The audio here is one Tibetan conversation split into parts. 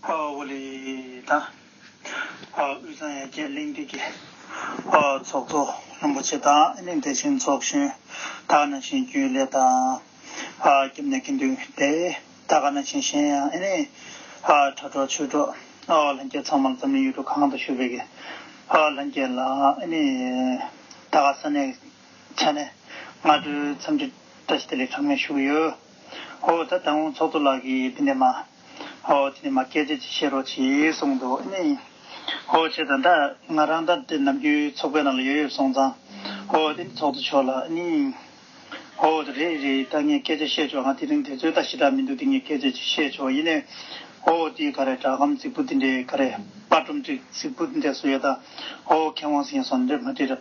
ཨོ་ལི་དང། དབུས་གཙང་ཡན་ཆད་གླེང་སྟེགས་ཀྱི་ཚོགས་གཙོ་རིན་པོ་ཆེ་དང་གླེང་སྟེགས་ཆེན་ཚོགས་གཞོན་དག་ནང་བཞིན་རྒྱུན་ལས་དང་རྒྱབ་གནས་ཀྱི་མདུན་སྡེ་དག་ནང་བཞིན་གཞན་ཡང་ཨེ་ནས་དྲ་གྲོགས་ཆོས་གྲོགས་ལྷན་རྒྱས་ཚང་མར་འཛམ་གླིང་ཡུལ་གྲུ་གང་དུ་བཞུགས་པའི་ཀྱི་ལྷན་རྒྱས་ལ་ཨེ་ནས་དག་ས་གནས་ཆ་ནས་སྔ་དྲོའི་འཚམས་འདྲི་བཀྲ་ཤིས་བདེ་ལེགས་གྲངས་མེད་ཞུ་གི་ཡོད། ཨོ་ད་ལྟ་ངོ་ཚོགས་གཙོ་ལགས་ཀྱིས་འདི་ནས་མ་ཨོ་འདི་ནས་མ་སྐད་ཆ་ཅིག་བཤད་རོགས་ཅེས་གསུངས་འདུག་ཨེ་ནི། ཨོ་བྱས་ད་ད་ང་རང་ད་འདི་ནམ་རྒྱུན་ཚོགས་པའི་ནང་ལ་ཡོད་ཡོད་སོང་ཙང་ཨོ་འདི་ནས་ཚོགས་གཙོ་མཆོག་ལ་ཨེ་ནི། ཨོ་ད་རེད་རེད་ད་ངས་སྐད་ཆ་བཤད་ཆོག་ང་དེ་རིང་དེ་ཚོའི་ད་ཞི་དྲག་མི་འདུག་འདི་ངས་སྐད་ཆ་ཅིག་བཤད་ཆོག་ཡིན་ནའི། ཨོ་འདི་ག་རེ་སྦྲག་གམ་རྫིག་པོ་འདི་འདྲའི་ག་རེ་དཔར་སྒྲོམ་ཅིག་རྫིག་པོ་འདི་འདྲས་སུ་ཡོད་ད་ཨོ་མཁས་དབང་སེང་སོང་འདྲས་མ་འདྲས།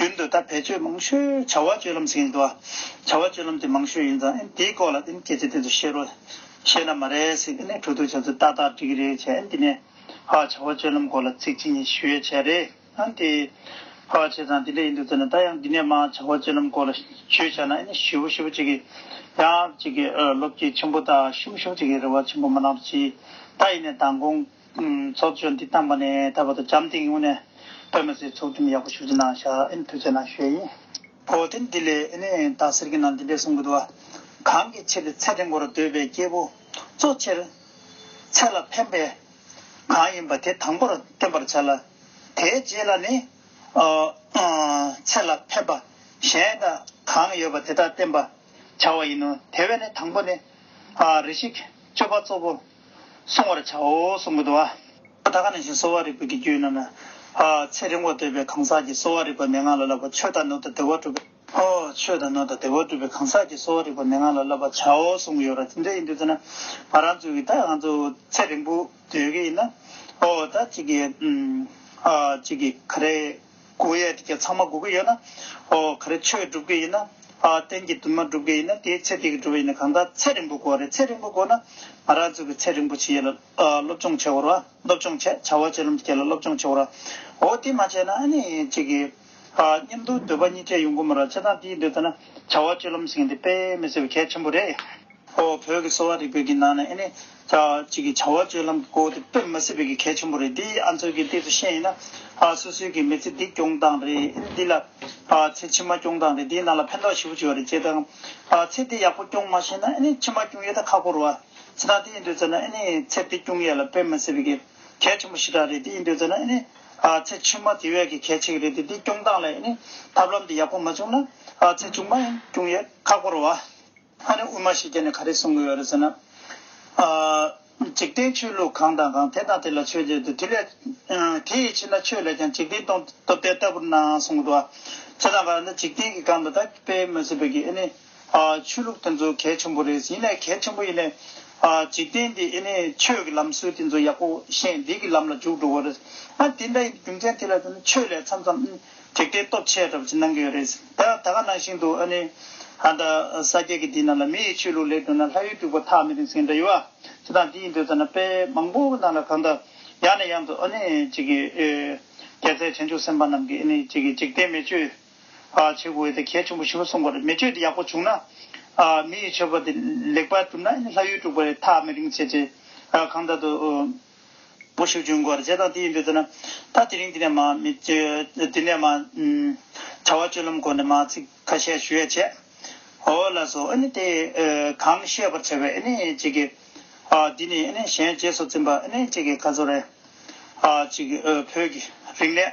རྒྱུན་དུ་ད་བེད་སྤྱོད་མང་ཤོས་བྱ་བ་སྤྱོད་ལམ་ཟིག་ཡིན་འདུག་བྱ་བ་སྤྱོད་ལམ་དེ་མང་ཤོས་ཡིན་ཙང་དེའི་སྐོར་ལ་སྐད་ཆ་དེ་ཚོ་བཤད་རོགས། བཤད་ན་མ་རེད་ཟིག་གྲོས་བསྡུར་བྱ་ཚུལ་ཏག་ཏག་འགྲིག་གི་རེད་བྱས་འདི་ནས། བྱ་བ་སྤྱོད་ལམ་སྐོར་ལ་ཚིག་ཅི་ཉིད་ཞུ་ཡས་བྱས་རེད་དེ། བྱ་བ་བྱས་ཙང་དེ་འདྲ་ཡིན་འདུག་ཟེར་ན་ད་ཡང་འདི་ནས་མང་བྱ་བ་སྤྱོད་ལམ་སྐོར་ལ་ཞུས་བྱས་ན་ཞི་བོ་ཞི་བོ་ཅིག་གི། ཡང་ཅིག་གི་ལོ་བརྒྱད་ཆེན་པོ་དང་ཤུམ་ཤུམ་ཅིག་གི་རེ་བ་ཆེན་པོ་མ་གནང་རོགས་གྱིས། ད་ཡིན་ནས་མདང་དགོང། ཚོགས་ཆོས་འདི་བཏང་བ་ནས་ད་བར་དུ་འཇམ་ཐིང་ཡུང་ནས་པད་མ་སེར་ཚོགས་འགྲིམ་ཡག་པོ་ཞུ་རྒྱུ་གནང་ཤག་ཨེ་ནི་ཐུགས་ཆེ་ན་ཞུ་ཡ་ཡིན། བོ་དེ་འདི་ལས་ཨེ་ནི་ད་ཟེར་གི་ན་འདི་འདྲས་གསུང་གི་འདུག་ཨ། གང་གི་ཕྱིར་ཚེ་འདི་འགོར་འདོད་པའི་སྐྱེས་བུ་གཙོ་ཆེར། ཚེ་ལ་ཕན་པའི་གང་ཡིན་པ་དེ་དང་པོར་བསྟེན་པར་བྱ་ལ། དེའི་རྗེས་ལ་ནི། ཚེ་ལ་ཕན་པ་གཞན་དག་གང་ཡོད་པ་དེ་དག་བསྟེན་པར་བྱ་བ་ཡིན་ནོ། དེ་བས་ནི་དང་པོ་ནི། རེ་ཤིག་སྤྱོད་པ་གཙོ་བོ། བསྲུང་བར་བྱའོ་གསུང་གི་དོ། ད་ག་ནས་བཞིན་གསོ་བ་རིག་པའི་དགེ་བཅུའི་རྣམས། ཚེ་རིང་བོར་འདོད་པའི་གང་ཟག་གིས་གསོ་བ་རིག་པ་མན་ངག་ལ་བསླབ་པ་ཆོས་དང་ནོར་དང་བདེ་བ་སྒྲུབ། ཆོས་དང་ནོར་དང་བདེ་བ་སྒྲུབ་པའི་གང་ཟག་གིས་གསོ་བ་རིག་པ་མན་ངག་ལ་བསླབ་པར་བྱའོ་གསུང་གི་ཡོད་ར་དེ་འདྲ་ཡིན་དུས་ཚེ་ན་ང་རང་ཚོའི་གིས་ད་ང་ཚོ་ཚེ་རིང་བོ་སྡོད་ཀྱི་ཡིན་ན། ད་གཅིག་གིས་གཅིག་གིས་ག་རེ། དགོས་ཡས་དེ་ཚང་མ་དགོས་ཀྱི་ཡོད་ན། ཨོ་ག་རེ་ཆོས་སྒྲུབ་ཀྱི་ཡིན་ན། གཏན་གྱི་དུ་མ་སྒྲུབ་ཀྱི་ཡིན་ན་དེའི་ཚེ་དེ་གི་སྒྲུབ་པ་ཡིན་ན་གང་དག་ཚེ་རིང་པོ་དགོས་རེད་ཚེ་རིང་པོ་དགོས་ན། ང་རང་ཚོ་གི་ཚེ་རིང་པོ་ཆེ་ཡོད་ལ་སློབ་སྦྱོང་བྱེད་དགོས་ར་སློབ་སྦྱོང་བྱེད་བྱ་བ་བྱེད་ལམ་དུ་བསྐྱལ་ལ་སློབ་སྦྱོང་བྱེད་དགོས་ར། འོ་དེ་མ་བྱས་ན་ཨ་ནི་ཅིག་གི། སྙེམས་སྡུག་འདོད་པ་གཉིས་ཆད་ཡོང་དགོས་མོད་ར་བྱས་ཙང་དེ་འདོད་ཚེ་ན་བྱ་བ་སྤྱོད་ལམ་ཟིན་གྱི་འདི་དཔེ་མི་སྲིད་པ་གལ་ཆེན་པོ་རེད། ཨོ། བོད་ཀྱི་གསོ་བ་རིག་པའི་གི་ནང་ནས་ཨེ་ནི། གཅིག་གི་བྱ་བ་སྤྱོད་ལམ་གི་སྐོར་དེ་དཔེར་མི་སྲིད་པའི་གི་གལ་ཆེན་པོ་རེད་དེ་ཨ་མཚོ་གི་ལྟས་སུ་བཤད་ཡིན་ན། སོ་སོའི་གི་མི་ཚེ་འདི་སྐྱོང་སྟངས་རེད་ཨེ་ནི་འདི་ལ། ཚེ་ཕྱི་མ་སྐྱོང་སྟངས་རེད་དེའི་ནང་ལ་ཕན་ཐོགས་ཞེ་པོ་ཅིག་ཡོད་རེད་ཅེས་དང། ཚེ་འདི་ཡག་པོ་སྐྱོང་མ་ཤེས་ན་ཨེ་ནི་ཕྱི་མ་སྐྱོང་ཡས་ད་ཁག་པོར་བ། ཚེ་ཐང་དེ་ཡིན་འདོད་ཚོད་ན་ཨེ་ནི་ཚེ་འདི་སྐྱོང་ཡས་ལ་དཔེར་མི་སྲིད་པའི་གི་གལ་ཆེན་པོ་ཞི་དྲག་རེད་དེ་ཡིན་འདོད་ཚོད་ན་ཨེ་ནི། ཚེ་ཕྱི་མ་དེ་བས་གི་གལ་ཆེ་གི་རེད་དེ་འདི་སྐྱོང་སྟངས་ལས་ཨེ་ནི་ཐབས་ལམ་འདི་ཡག་པོ་མ་བྱུང་ན། ཚེ་ཕྱི་མ་ཡང་སྐྱོང་ཡས་ཁག་པོར་བ། ཨ་ནི་དབུ་མ་ཞིག་སྐྱེས་ནས་ག་རེ་གསུང་གི་ཡོད་རེད་ཟེར་ན། འཇིག་རྟེན་ཆོས་ལུགས་གང་དང་གང་དེ་དང་དེ་ལ་ཆོས་ཅེས་འདུག་དེ་ལས་དེ་ཡི་ཕྱིར་ན་ཆོས་ལས་ཀྱང་འཇིག་རྟེན་སྟོང་སྟོབས་ལྡན་ལྟ་བུར་སྣང་གསུང་གི་འདུག་ཇི་ལྟར་ན་འཇིག་རྟེན་གྱི་སྒང་དུ་ད་དཔེ་མོ་ཟེར་བའི་གི་ཨེ་ནི། ཆོས་ལུགས་དེ་ཚོ་གལ་ཆེན་པོ་རེད་ཡིན་ནས་གལ་ཆེན་པོ་ཡིན་ནས། འཇིག་རྟེན་འདི་ཨེ་ནི་ཆོས་ཀྱི་ལམ་སྲོལ་དེ་ཚོ་ཡག་པོ་ཤེས་འདི་གི་ལམ་ལ་འཇུག་འགྲོ་དགོས་རེད། ཨ་དེ་འདྲ་ཡིན་དུས་རྒྱུ་མཚན་དེ་ལ་ཟེར་ན་ཆོས་ལས་མཚམས་མཚམས། དྲེགས་ལྡན་སྟོབས་ཆེ་ཡ་འདྲ་པོ་ཅིག་གནང་གི་ཡོད་རེད། ད་ད་ག་ནང་བཞིན་དུ་ཨ་ནི། ཨ་ད་ས་སྐྱེས་ཀྱི་འདི་ནང་ལ་མི་ཡི་ཆོས་ལུགས་ལས་དོན་ན་ལྷ་ཡུལ་དཀྲུགས་པ་ཐག་མི་རིང་ཟིན་གི་འདྲ་ཡོད་ཨ། ཅི་དང་འདི་ཡིན་འདོད་ཚ་ན་དཔེ་མང་པོ་ནང་ལ་གང་ལྟར། ཡང་ནས་ཡང་དུ་ཨ་ནི་ཅིག་གི། རྒྱལ་སྲས་བྱང་ཆུབ་སེམས་དཔའ་རྣམས་ཀྱིས་ཨ་ནི་ཅིག་གི་འཇིག་རྟེན་མེ་མཆོད། བྱེད་དགོས་འོས་ཏེ་གལ་ཆེན་པོ་བཞི་པོ་གསུངས་པ་རེད་མེ་མཆོད་འདི་ཡག་པོ་བྱུང་ན། མི་ཡི་ཆོས་པ་འདི་ལེགས་པར་གྲུབ་ན་ཨ་ནི་ལྷ་ཡུལ་དཀྲུགས་པ་རེད་ཐག་མི་རིང་བྱས་རྗེས། གང་ལྟར་དུ། པོ་ཞིག་བྱུང་སྐོར་བྱས་དང་དེ་ཡིན་དུས་ཚོད་ན། ད་དེ་རིང་འདི་ནས་མ། འདི་ནས་མ། བྱ་བ་སྤྱོད་ལམ་སྐོར་ནས་མ་ཚིག་ཁ་ཤས་ཞུ་ཡས་བྱས། ཨོ་ལ་སོ་ཨེ་ནི་དེ། གང་བཤད་པར་བྱ་བའི་ཨེ་ནི་ཅིག་གི། འདི་ནི་ཨེ་ནི་གཞན་རྗེས་སུ་འཛིན་པ་ཨེ་ནི་ཅིག་གི་ཁ་ཚུར་རེ། ཅིག་གི་བོད་ཀྱི་རིག་གནས།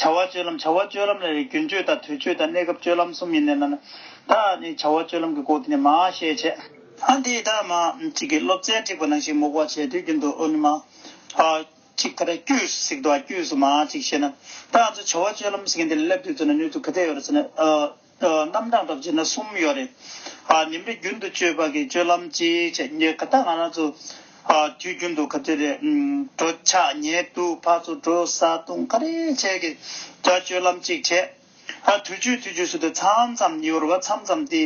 བྱ་བ་སྤྱོད་ལམ་བྱ་བ་སྤྱོད་ལམ་ལ་ནི་རྒྱུན་སྤྱོད་དང་དུས་སྤྱོད་དང་གནས་སྐབས་སྤྱོད་ལམ་གསུམ་ཡིན་ནས་ན། ད་ནི་བྱ་བ་སྤྱོད་ལམ་གྱི་སྐོར་དེ་ནི་མ་ཤེས་བྱས། ཨ་འདི་ད་མ་གཅིག་གིས་སློབ་ཚན་འཁྲིགས་པ་ནང་བཞིན་མུག་བ་བྱས་དུས་རྒྱུན་དུ་ཨོ་ནི་མ། གཅིག་ད་རེས་ཀྱུས་སུ་ཟིག་འདུག་ཨ་ཀྱུས་སུ་མ་གཅིག་བྱས་ན། ད་ང་ཚོས་བྱ་བ་སྤྱོད་ལམ་ཟེར་མཁན་དེ་ལ་སླེབས་དུས་ཚོད་ནི་སྣོད་དུ་ག་དེ་ཡོད་རེད་ཟེར་ནས། རྣམ་གྲངས་སྐབས་བྱས་ན་གསུམ་ཡོད་རེད། ཉིན་རེ་རྒྱུན་དུ་སྤྱོད་པ་གི་སྤྱོད་ལམ་གཅིག་བྱས་ཉེས་ག་ད་ང་རང་ཚོ་དུས་རྒྱུན་དུ་ག་ཚོད་རེད་གྲོ་ཆག་ཉལ་བཏུག་ཕར་ཚུར་འགྲོ་ཟ་བཏུང་ག་རེ་བྱས་ཀྱི་ད་སྤྱོད་ལམ་གཅིག་བྱས། དུས་རྒྱུན་དུས་རྒྱུན་སུ་དེ་མཚམས་མཚམས་ཉི་འོར་བ་མཚམས་མཚམས་དེ་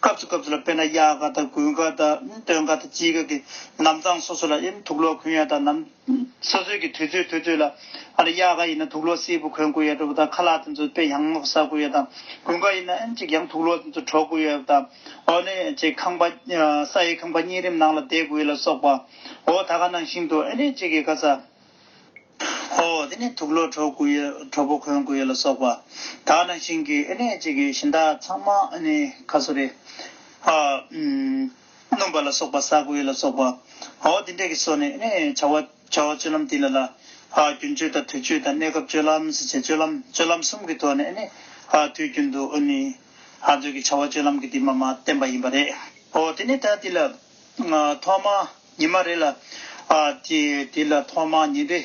སྐབས་སུ་སྐབས་སུ་ལ་དཔེར་ན་གཡག་ག་ད་རྒུན་ག་ད་སྟོན་ག་ད་ཅི་ག་གི་ནམ་གཙང་སོ་སོ་ལ་ཨེ་ཐུག་ལོག་ཁུན་ཡ་ད་ནམ། སོ་སོས་ཀྱི་དུས་ཚོད་དུས་ཚོད་ལ། དབྱར་ཁ་ཡིན་ན་དུག་ལོག་སེར་བུ་གོན་དགོས་ཡོད་པ་དང་ཁ་ལག་དེ་ཚོ་དཔེ་ཡང་མོག་ཟ་དགོས་ཡོད་དམ། དགུན་ཁ་ཡིན་ན་ཨེན་ཅིག་ཡང་དུག་ལོག་དེ་ཚོ་བྲོ་དགོས་ཡོད་པ་དང། འོ་ནི་ཅེ་ཁང་པ། ས་ཡི་ཁང་པ་གཉིས་རིམ་ནང་ལ་བསྡད་དགོས་ལ་སོགས་པ། འོ་ད་ག་ནང་ཞིང་དུ་ཨེ་ནི་ཅེ་གི་ཁ་ཟ། འོ་དེ་ནི་དུག་ལོག་བྲོ་དགོས་ཡོད་བྲོ་པོ་གོན་དགོས་ཡོད་ལ་སོགས་པ། ད་ག་ནང་ཞིང་གི་ཨེ་ནི་ཅེ་གི་ཞིང་བདག་ཚང་མ་ཨེ་ནི་ཁ་སོ་རེད། སྣུམ་པ་ལ་སོགས་པ་ས་དགུའི་ལ་སོགས་པའོ། འདི་འདྲ་གི་སོ་ནི། བྱ་བ་སྤྱོད་ལམ་དེ་ལ་ལ། རྒྱུན་སྤྱོད་དང་དུས་སྤྱོད་དང་གནས་སྐབས་སྤྱོད་ལམ་བྱེད་སྤྱོད་ལམ་སྤྱོད་ལམ་གསུམ་གྱི་ཐོག་ནས་དུས་རྒྱུན་དུ་ནི། ཚོད་ཀྱི་བྱ་བ་སྤྱོད་ལམ་གྱི་དེ་མ་མ་བསྟན་པ་ཡིན་པ་རེད། དེ་ནས་ད་དེ་ལ། ཐོག་མ་ཉིན་མ་རེ་ལ། དེ་ལ་ཐོག་མ་ཉིན་རེ།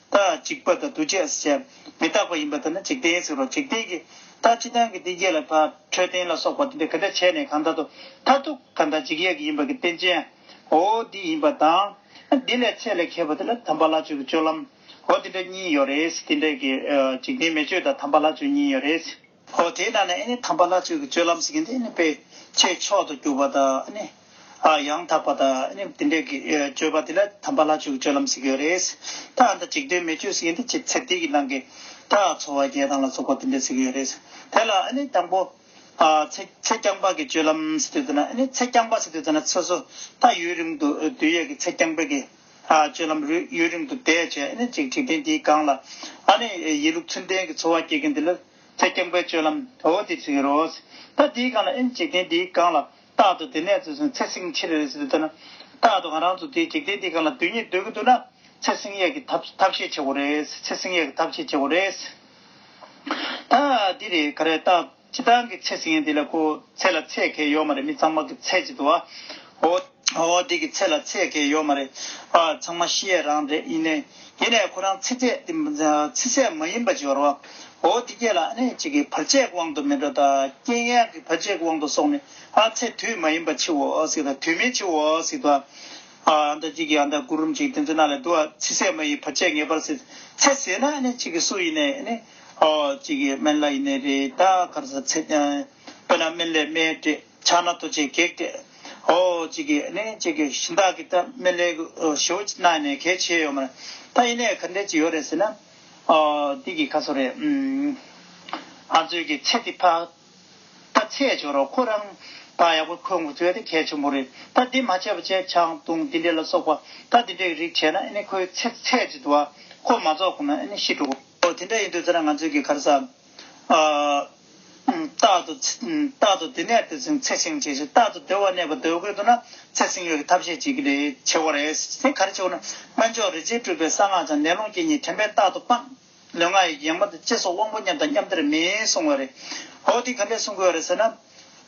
རྟག་གཅིག་པ་དང་འདུ་བྱེད་ཨས་བྱས། མི་རྟག་པ་ཡིན་པ་དེ་ནི་འཇིག་རྟེན་ཟེར་རོ། འཇིག་རྟེན་གྱི་རྟགས་ཅི་ལྟ་བུ་འདི་རྒྱས་ལ་བབ། འཕྲོད་བསྟེན་ལ་སོགས་པ་འདི་འདི་ག་འདྲ་བྱས་ནས་གང་དག་ཏུ། མཐར་ཐུག་གང་དག་འཇིག་ཡེ་གི་ཡིན་པར་གྱི་རྟེན་ཅན། འོ་འདི་ཡིན་པ་དང། འདི་ལས་ཚད་ལས་མཁས་པ་དེ་ལ་དམ་པ་ལྷ་ཆོས་ཀྱི་སྤྱོད་ལམ། འོ་འདི་འདྲ་གཉིས་ཡོད་རེད། འདི་འདྲ་གི། འཇིག་རྟེན་མེ་ཆོས་དང་དམ་པ་ལྷ་ཆོས་གཉིས་ཡོད་རེད། ཨོ་དེས་ན་ནི་ནི་དམ་པ་ལྷ་ཚོད་ཀྱི་སྤྱོད་ལམ་ཟེར་གྱི་འདི་ནི་དཔེ་བྱད་མཆོག་ཏུ་གྱུར་པ་དང་ནི། ཡང་དག་པ་དང་ནི་དེ་འདྲའི་སྤྱོད་པ་དེ་ལ་དམ་པ་ལྷ་ཆོས་ཀྱི་སྤྱོད་ལམ་ཟེར་གྱི་ཡོད་རེད། ད་ཨ་མདའ་ཅིག་དོན་མེད་སྤྱོད་ཟེར་གྱི་འདི་ཅི་ཚེ་འདི་ཡི་ནང་གི། ད་འཚོ་བ་རྒྱལ་ཐང་ལ་སོགས་པ་དེ་འདྲ་ཟེར་གྱི་ཡོད་རེད། དེ་ལ་ནི་དང་པོ། ཚེ་རྐྱང་པ་གི་སྤྱོད་ལམ་ཟེར་དུས་ན་ནི་ཚེ་རྐྱང་པ་ཟེར་དུས་ན་ཚེ་སོ་ད་ཡུན་རིང་དུ་དུས་ཡས་ཀྱི་ཚེ་རྐྱང་པའི་གི། སྤྱོད་ལམ་རུས་གཡོས་རིང་དུ་བསྡད་བྱས་ནས་ཅིག་འཁྲིག་ལྡན་དེའི་སྒང་ལ། ཨ་ནི་ཡིན་ལུགས་ཚུལ་ལྡན་གྱི་འཚོ་བ་སྐྱེལ་མཁན་དེ་ལ་ཚེ་སྐྱང་པའི་སྤྱོད་ལམ་འོ་དེ་ཟེར་གྱི་རོགས། ད་དེའི་སྒང་ལ་ཨེ་ཅིག་ལྡན་དེའི་སྒང་ལ་རྟག་ཏུ་དེ་ནས་བཙོས་སོང་ཚེ་སྲིང་ཕྱིར་རེ་ཟེར་དུ་འདོད་ན། རྟག་ཏུ་གང་རང་ཚོ་དེ་ཅིག་ལྡན་དེའི་སྒང་ལ་དུས་ཉིད་སྡོད་ཀྱི་འདུག་ན། ཚེ་སྲིང་གཡག་གི་ཐབས་ཤེས་བྱེད་དགོས་རེད། ཚེ་སྲིང་གཡག་གི་ཐབས་ཤེས་བྱེད་དགོས་རེད། ད་འདི་རེད་ག་རེ་རྟག། ཁྱི་སྟག་གི་ཚེ་ཟིན་ཡང་དེ་ལ་ཁུ་ཚེར་ལ་ཚད་ཁེལ་ཡོད་མ་རེད་མི་ཚང་མ་གི་ཚད་ཅིག་འདུག་ཨོ། ཨོ་དེ་གི་ཚད་ལ་ཚད་ཁེལ་ཡོད་མ་རེད། ཨ་ཚང་མ་ཤི་ཡས་རང་རེད་ཡིན་ནའི། ཡིན་ནའི་ཁོ་རང་ཚེ་ཚད་དེ་ཚེ་ཚད་མ་ཡིན་པ་ཅིག་རོ། ཨོ་དེ་ཁྱེད་ལ་ཨ་ནེ་ཅིག་གི་བར་ཆད་གི་དབང་དུ་མི་འགྲོ་ད། རྐྱེན་ཡན་གི་བར་ཆད་གི་དབང་དུ་སོང་ནས་ཨ་ཚེ་དུས་མ་ཡིན་པ་འཆི་འོ་སིག་ད་དུས་མིན་འཆི་འོ་སིག་ད། ཨ་ད་ཅིག་གི་ཨ་ད་སྐུ་རུམ་ཅིག་དེ་ཚོ་ན་ལ་འདུག་ཨ་ཚེ་ཚད་མ་ཡི་བར་ཆད་ངེས་པར་སེལ། ཚད་ཟེར་ན་ཨ་ནེ་ཅིག་གི་སུ་ཡིན་ནའི་ཨ་ནེ། གཅིག་གིས་སྨན་བླ་ཡི་ནད་རེ་ད་གར་ཟ་ཚེ། དཔེར་ན་སྨན་བླའི་སྨན་སྤྲད་ཕྱག་ན་ཐོ་ཆས་བགེགས་བསྐྲད། གཅིག་གིས་ནི་གཅིག་གིས་གཞི་བདག་གིས་ད་སྨན་བླའི་ཞོ་བྱས་ན་ནི་གལ་ཆེ་ཡོད་མ་རེད། ད་ཡིན་ནའི་གར་འགྲེལ་ཅིག་ཡོད་རེད་ཟེར་ན། འདི་གི་ཁ་སོ་རེད། ང་ཚོས་ཀྱི་ཚེ་འདི་ཕག་ད་ཚད་བྱོས་རོགས་ཁོ་རང་ད་ཡག་པོ་འཁོད་འགོ་ཚོད་ད་གལ་ཆེན་པོ་རེད་ད་འདི་མ་བྱས་པ་བྱས་ཆང་བཏུང་འདི་འདྲས་ལ་སོགས་པ་ད་འདི་འདྲས་ཀྱི་རིགས་བྱས་ན་ཨ་ནི་ཁོའི་ཚེ་ཚད་ཅིག་འདུག་ཨ་ཁོ་མ་རྫོགས་ཁོ་ན་ཨ་ནི་ཤི་འགྲོ། ཨོ་དེ་འདྲ་ཡིན་དུས་དེ་ན་ང་ཚོའི་གི་གར་ས། རྟག་ཏུ། རྟག་ཏུ་དེ་ནས་དེ་ཚིང་ཚེ་ཆེང་བྱེད་ཤེས་རྟག་ཏུ་དེ་བ་ནས་བ་དོལ་དགོས་འདུག་ན་ཚེ་ཚིང་ཡོད་གི་ཐབས་ཤེས་བྱེད་གི་རེད་ཆེ་བ་རེད་དེ་གར་ཆེ་བ་ན་སྨན་མཆོག་རི་ཆེན་སྤྲུལ་པའི་གསང་སྔགས་ཅང་ནན་ལུང་སྐྱེས་གཉིས་དྲན་པས་རྟག་ཏུ་སྤངས། ལུས་ངག་ཡིད་ཀྱི་ཡངས་པ་དང་བཅས་སོགས་དབང་པོ་མཉམ་དང་མཉམ་དེར་མེད་གསུང་བ་རེད། ཨོ་དེ་ག་འདྲས་གསུང་དགོས་བ་རེད་ཟེར་ན།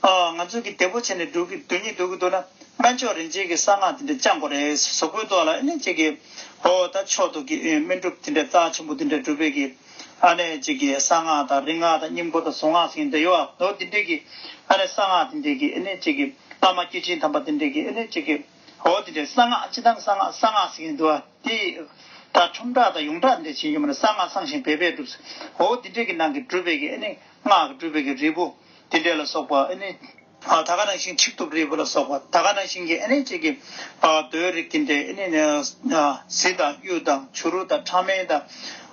ང་ཚོ་གིས་དེ་པོ་བྱས་ནས་འགྲོ་གི་འདུག་ཉིད་འདུག་གི་འདུག་ན་སྨན་མཆོག་རིན་ཆེན་གྱིས་གསང་སྔགས་དེ་འདྲ་བཅངས་པོ་རེད་ཟོག་པོའི་ཏོག་ལ་ཨེ་ནས་ཅིག་གི། ཨོ་ད་ཕྱོགས་དུ་གི་སྨན་སྒྲུབ་དེ་འདྲ་རྩ་ཆེན་པོ་དེ་འདྲ་སྒྲུབ་པས་གི། ཨ་ནས་ཅིག་གི་གསང་སྔགས་དང་རིག་སྔགས་དང་སྙིང་པོ་དང་གཟུངས་སྔགས་ཟིན་འདྲ་ཡོད་ཨ་ནོ་དེ་འདྲས་གི། ཨ་ནས་གསང་སྔགས་དེ་འདྲས་གི་ཨེ་ནས་ཅིག་གི་བླ་མ་སྐྱེས་ཆེན་དམ་པ་དེ་འདྲས་གི་ཨེ་ནས་ཅིག་གི། ཨོ་དེ་འདྲས་གསང་སྔགས་ཅི་ཐམ་གསང་སྔགས་གསང་སྔགས་ཟིན་གི་འདུག་ཨ་དེ། ད་ཁྲོམ་བསྒྲགས་དང་ཡོངས་བསྒྲགས་དེ་འདྲས་བྱེད་ཀྱི་མ་རེད་གསང་སྔགས་གསང་ཞིང་བེད་པས་བསྒྲུབས། ཨོ་དེ་འདྲས་གི་ནང་གི་སྒྲུབ་པས་གི་ཨེ་ནས་སྔགས་སྒྲུབ་པས་གི་རིལ་བུ། དེ་འདྲས་ལ་སོགས་པ་ཨེ་ནི། ད་ག་ན་ཤིང་ཆིག་ཐུབ་རིལ་བུ་ལ་སོགས་པ་ད་ག་ན་ཤིང་གི་ཨེ་ནི་བཅས་ཀྱི། རྡོའི་རིགས་དེ་འདྲས་ཨེ་ནི། གཟི་དང་གཡུ་དང་བྱུ་རུ་དང་ཕྲ་མེན་དང།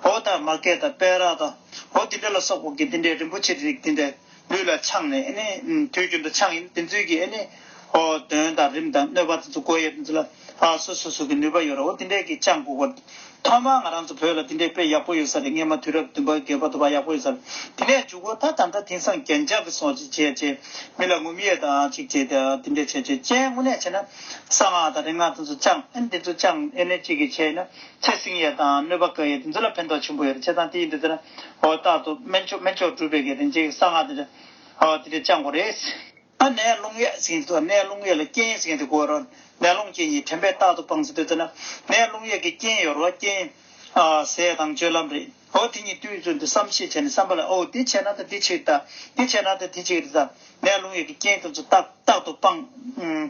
འོ་དང་མ་སྐད་དང་པད་རག་དང། འོ་དེ་འདྲས་ལ་སོགས་པ་ཀྱི་དེ་འདྲས་རིན་པོ་ཆེའི་རིགས་དེ་འདྲས་ལུས་ལ་འཆང་ནས་ཨེ་ནི། དུས་རྒྱུན་དུ་འཆང་ཡིན་དེ་ཚུལ་གྱིས་ཨེ་ནི། གདོན་དང་རིམས་དང་གནོད་པ་དེ་ཚུལ་སྒོ་དབྱེར་དེ་ཚུལ་ལ། ཨ་སོ་སོ་སོ་གི་ནུས་པ་ཡོད་རོ་དེ་འདྲས་ཀྱི་ཅང་གོ་གོ། ཐོག་མར་ང་རང་ཚོ་བོད་ལ་དེ་འདྲས་དཔེ་ཡག་པོ་ཡོད་ས་རེད་སྔས་མ་དུས་རབས་བདུན་པ་བརྒྱད་པ་དོ་པ་ཡག་པོ་ཡོད་ས་རེད་དེ་ནས་འཇུག་གོ་ད་ད་ལྟ་དེང་སང་རྒྱན་ཆ་གི་སོགས་ཅིག་བྱས་བྱས་མི་ལ་ངུ་མི་ཡས་དང་ཅིག་བྱས་དེ་འདྲས་བྱས་བྱས་བྱས་དངོས་གནས་བྱས་ན་གསང་སྔགས་དང་རིག་སྔགས་དེ་ཚོ་ཅང་ཨེ་འདི་ཚོ་ཅང་ཨེ་ནས་ཅིག་གིས་བྱས་ཡིན་ན་ཚེ་སྲིང་ཡས་དང་གནོད་པ་ག་ཡས་དེ་ཚོ་ལ་ཕན་ཐོག་ཆེན་པོ་ཡོད་རེད་བྱས་ཙང་དེ་ཡིན་དུས་ཟེར་ན་འོ་རྟག་ཏུ་སྨན་མཆོག་སྨན་མཆོག་སྒྲུབ་པའི་གི་རིན་ཆེན་གི་གསང་སྔགས་དེ་འདྲས་ཨོ་དེ་འདྲས་ཅང་གོ་རེད། ཨ་ནས་རླུང་གཡས་ཟིན་གྱི་ཐོག་ནས་རླུང་གཡས་ལ་རྐྱེན་ཟིན་གྱི་སྒོ་རུ་ནས་རླུང་རྐྱེན་གྱིས་དྲན་པས་རྟག་ཏུ་སྤངས་ཟིན་པའི་དུས་ན་ནས་རླུང་གཡས་ཀྱི་རྐྱེན་ཡོད་རོ་རྐྱེན། ཟས་དང་སྤྱོད་ལམ་རེད་འོ་དེ་གཉིས་དུས་ཚོད་འདི་བསམ་ཤེས་བྱས་ནས་བསམ་པ་ལ་ཨོ་འདི་བྱས་ན་ད་འདི་ཆིག་རྟག་འདི་བྱས་ན་ད་འདི་ཆིག་རེད་ད་ནས་རླུང་གཡས་ཀྱི་རྐྱེན་དེ་ཚོ་རྟག་ཏུ་སྤངས་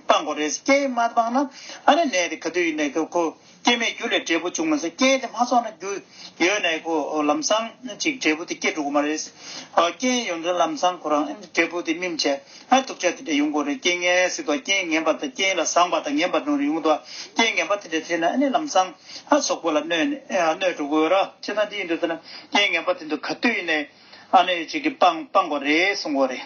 དགོས་རེད་རྐྱེན་མ་སྤངས་ན་ཨ་ནས་ནད་དེ་ག་དུས་ཡིན་ནའི་ཁོ། སྐྱེ་མེད་རྒྱུ་ལས་འབྲས་བུ་འབྱུང་མ་ཟད་རྐྱེན་དེ་མ་ཚོགས་ན་རྒྱུ་ཡོད་ནའི་གོ། ལམ་སྲང་གཅིག་འབྲས་བུ་དེ་སྐྱེ་འགྲོ་གི་མ་རེད། རྐྱེན་ཡོད་ན་ལམ་སྲང་ཁོ་རང་འབྲས་བུ་དེ་སྨིན་བྱེད་ཨ། དུག་ཆ་དེ་འདྲ་ཡོང་གོ་རེད་རྐྱེན་ངན་སྲིད་དོ་རྐྱེན་ངན་པ་དང་རྐྱེན་ལ་བཟང་བ་དང་ངན་པ་འགྲོ་རེ་ཡོང་དོ། རྐྱེན་ངན་པ་དེ་འདྲ་ཐེབས་ན་ལམ་སྲང་ཨ་སོགས་པོ་ལ་གནོད་འགྲོ་གོ། ཅི་ད་འདི་ཡིན་འདུག་ཟེར་ན་རྐྱེན་ངན་པ་དེ་འདུག་ག་དུས་ནས་ཨ་ནི་སྤང་གོ་རེད་གསུང་གོ་རེད།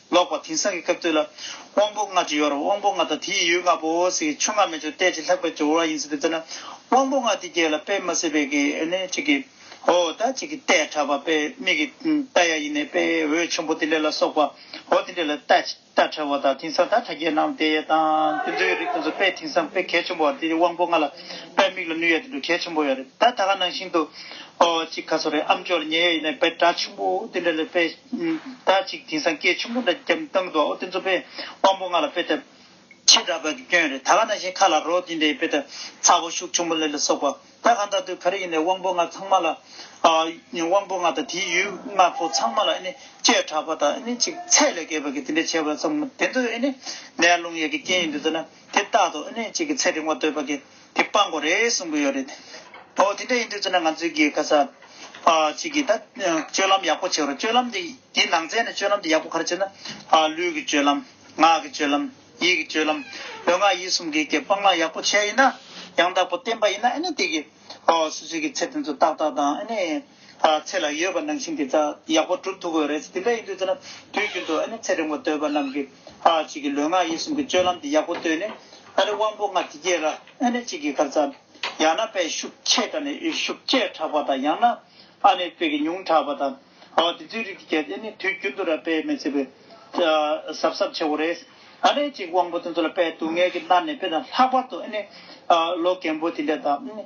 ལོག་པར་དེང་སང་གི་སྐབས་དུས་ལ། དབང་པོ་ལྔ་ཇི་ཡོར་དབང་པོ་ལྔ་དང་དེ་ཡི་ཡུལ་ལྔ་པོ་ཟེར་གྱི་ཆོས་ལྔ་མེ་ཆུ་རྟའི་ཆུ་ལྷག་པའི་ཆུ་འོ་བ་ཡིན་ཟེར་བའི་དོན་ནི། དབང་པོ་ལྔ་དེ་རྒྱས་ལ་པད་མ་སེར་བས་གི་ནི་གཅིག་གི། འོ་ད་གཅིག་གི་རྟས་ཕྲ་བ་པད་མིག་གི་རྟ་ཡ་ཡིན་ནས་པད་འོད་ཆེན་པོ་དེ་འདྲ་ལ་སོགས་པ། འོ་དེ་འདྲ་ལ་རྟ་ཕྲ་བ་དང་དེང་སང་ད་ཕྲ་རྒྱས་ནང་དེ་དང་དེ་ཚོའི་རིགས་དང་ཚོ་པད་དེང་སང་པད་གལ་ཆེན་པོ་བ་དེ་དབང་པོ་ལྔ་ལ་པད་མིག་ལ་ནུས་ཡ་དེ་འདྲ་གལ་ཆེན་པོ་ཡོ་རེད་ད་ད་ག་ནང་བཞིན་དུ། འོ་གཅིག་ཁ་སོ་རེ་ཨམ་ཅོག་ལ་ཉེ་ཡ་ཡིན་ནས་པད་སྒྲ་ཆེན་པོ་དེ་འདྲ་ལས་པད། ཟླ་གཅིག་དེང་སང་སྐད་ཆུང་ངུ་འདྲ་བརྒྱབ་བཏང་འདུག་ཨོ་དེ་ཚོ་དཔེ་དབང་པོ་ང་ལ་དཔེ་དེབ་ཕྱེད་འདྲ་པ་གི་སྐྱོན་རེད་ད་ག་ན་བཞིན་ཁ་ལ་རོགས་དེ་འདྲའི་དཔེ་དེབ་ཚ་བོ་ཤུགས་ཆུང་པོ་ལས་ལ་སོགས་པ་ད་གང་ད་དུ་ག་རེ་ཡིན་ནས་དབང་པོ་ང་ཚང་མ་ལ་དབང་པོ་ང་དང་དེའི་ཡུལ་ང་ཚོ་ཚང་མ་ལ་ཨེ་ནི་བཅོས་དྲགས་པ་དང་ཨེ་ནི་ཅིག་ཚད་ལས་བརྒལ་བ་གི་དེ་འདྲའི་བྱས་པ་ཚོ་དེ་ཚོ་ཨེ་ནི་ནད་རླུང་ཡས་ཀི་རྐྱེན་ཡིན་འདུག་ཟེར་ན་དེ་རྟག་ཏུ་ཨེ་ནི་ཅིག་གི་ཚད་རིང་བ་འདོད་པ་གི་དེ་སྤང་དགོས་རེད་གསུང་གི་ཡོད་རེད། འོ་དེ་འདྲ་ཡིན་དུས་ཚོད་ན་ང་ཚོས་གི་ཁ་ས་ཅིག་གི་ད་སྤྱོད་ལམ་ཡག་པོ་བྱེད་རོགས་སྤྱོད་ལམ་དེ་དེ་ནང་ཚན་ནས་སྤྱོད་ལམ་དེ་ཡག་པོ་ག་རེ་བྱེད་ན། ལུས་ཀྱི་སྤྱོད་ལམ། ངག་གི་སྤྱོད་ལམ། ཡིད་ཀྱི་སྤྱོད་ལམ། ལུས་ངག་ཡིད་གསུམ་གི་གི་སྤང་བླང་ཡག་པོ་བྱས་ཡིན་ན། ཡང་དག་པོ་བསྟན་པ་ཡིན་ན་ཨ་ནི་དེ་གི། སུ་ཞིག་གི་ཚེ་དེ་ཚོ་ཏག་ཏག་དང་ཨ་ནི། ཚེ་ལ་ཡོད་པ་ནང་བཞིན་དེ་དག་ཡག་པོ་གྲུབ་ཐུབ་དགོས་རེད་དེ་འདྲ་ཡིན་དུས་ཚོད་ན་དུས་རྒྱུན་དུ་ཨ་ནེ་ཚེ་རིང་བ་འདོད་པ་རྣམས་ཀྱི་བྱིས་ཀྱི་ལུས་ངག་ཡིད་གསུམ་གྱི་སྤྱོད་ལམ་དེ་ཡག་པོ་བཏོད་ནས་ཨ་རེ་དབང་པོ་ལྔ་དེ་སྐྱེས་ལ་ཨ་ནེ་གཅིག་གི་གར་འཚམས། ཡང་ན་དཔེ་ཤུགས་ཆེ་དྲགས་ནས་ཤུགས་ཆེ་དྲགས་པ་དང་ཡང་ན་ཨ་ནེ་དཔེ་གི་ཉུང་དྲགས་པ་དང་འོ་དེ་ཚོའི་རིགས་དེ་སྐྱེས་ཨེ་ནི་དུས་རྒྱུན་དུ་ར་དཔེ་མི་ཚེ་བའི་གཟབ་གཟབ་ཆེ་བོ་རེད་ཨ་ནེ་གཅིག་དབང་པོ་དེ་ཚོ་ལ་དཔེ་སྡུག་བསྔལ་གྱི་མནར་ནས་དཔེ་དང་ལྷག་པར་དུ་ཨེ་ནི་ལོ་རྒན་པོ་དེ་འདྲ་དང་ཨེ་ནི།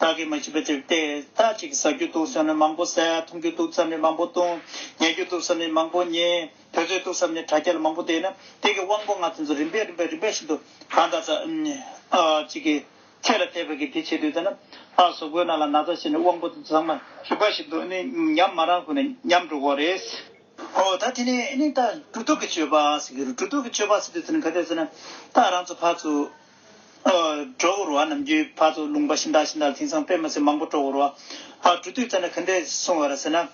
བདག་གིས་མ་བྱས་པའི་དེར་ཏེ། ད་ཅིག་ཟ་རྒྱུ་འདུག་བསམ་ནས་མང་པོ་ཟས། འཐུང་རྒྱུ་འདུག་བསམ་ནས་མང་པོ་བཏུང། ཉལ་རྒྱུ་འདུག་བསམ་ནས་མང་པོ་ཉལ། དུས་ཚོད་འདུག་བསམ་ནས་དྲ་རྒྱ་ལ་མང་པོ་བསྡད། ན་དེ་གི་དབང་པོ་ལྔ་དེ་ཚོ་རིམ་པས་རིམ་པས་རིམ་པས་བཞིན་དུ་གང་དག་ཅིག་གིས། ཚད་ལ་བལྟས་པས་ཀྱི་དེ་བྱེད་དུས་ད་ན། ཨ་ཟོ་གོས་ན་ལ་ན་ད་བྱས་ནས་དབང་པོ་དེ་ཚོ་ཚང་མ། རིམ་པ་བཞིན་དུ་ཉམས་མ་རང་ཁུ་ན་ཉམས་འགྲོ་བོ་རེད། ཧོ་ད་དེ་ནས་ད་འགྲོ་འདུག་གི་སྤྱོད་པ། རྒྱུ་འགྲོ་འདུག་གི་སྤྱོད་པ་ཟེར་དུས་དེ་ནི་ག་དུས་ཟེར་ན། ད་རང་ཚོ་ཕར་ཚུར། སྤྲོ་བོར་བ་ནམ་རྒྱུའི་བར་དུ་ལུང་པ་ཤིན་ཏག་ཤིན་ཏག་དེང་སང་དཔེ་མ་ཚད་མང་པོ་སྤྲོ་བོར་བ། འབྲུ་བཏུས་བཙལ་ན་ག་འདྲས་སོང་བ་ར་ཟེར་ན།